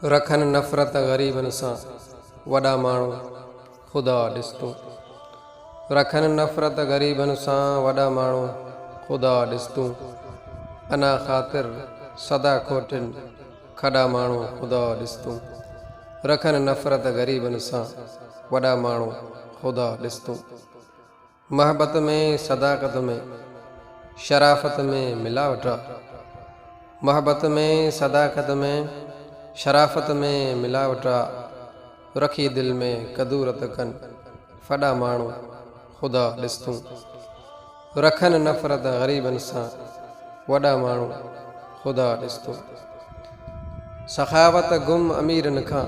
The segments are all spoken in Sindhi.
رکن نفرت غريبن سان وڏا ماڻهو خدا ڏس تون رکن نفرت غريبن سان وڏا ماڻهو خدا ڏس تون انا خاطر سدا کوٽين کڏا ماڻهو خدا ڏس تون رکن نفرت غريبن سان وڏا ماڻهو خدا ڏس تون. محبت ۾ صداقت ۾ شرافت ۾ ملاوٽ آ. محبت ۾ صداقت ۾ شرافت ۾ ملاوٽ آ. رکي دل ۾ ڪدورت ڪن ڦڏا ماڻهو خدا ڏس تون. رکن نفرت غريبن سان وڏا ماڻهو خدا ڏس تون. سخاوت گم اميرن کان.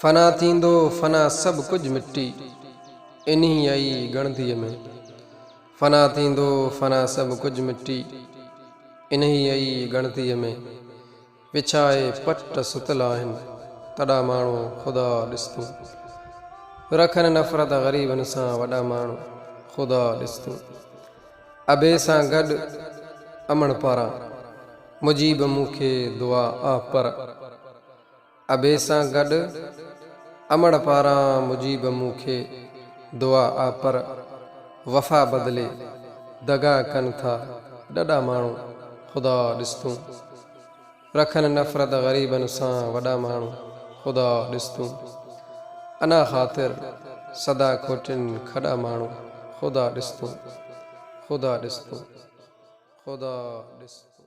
فنا ٿيندو فنا سڀ ڪجھ مٽي انهي ئي ڳڻتي ۾. فنا ٿيندو فنا سڀ ڪجھ مٽي انهي ئي ڳڻتي ۾. وڇائي پٽ ستل آهن تڏا ماڻهو خدا ڏس تون. رکن نفرت غريبن سان وڏا ماڻهو خدا ڏس تون. ابي سان گڏ امڙ پاران مجيب مون کي دعا آ پر. ابي سان گڏ امڙ پاران مجيب مون کي دعا آ پر وفا بدلي دغا ڪن ٿا ڏڏا ماڻهو خدا ڏس تون. رکن نفرت غريبن سان وڏا ماڻهو خدا ڏس تون انا خاطر سدا کوٽين کڏا ماڻهو خدا ڏس تون خدا ڏس تون خدا ڏس تون.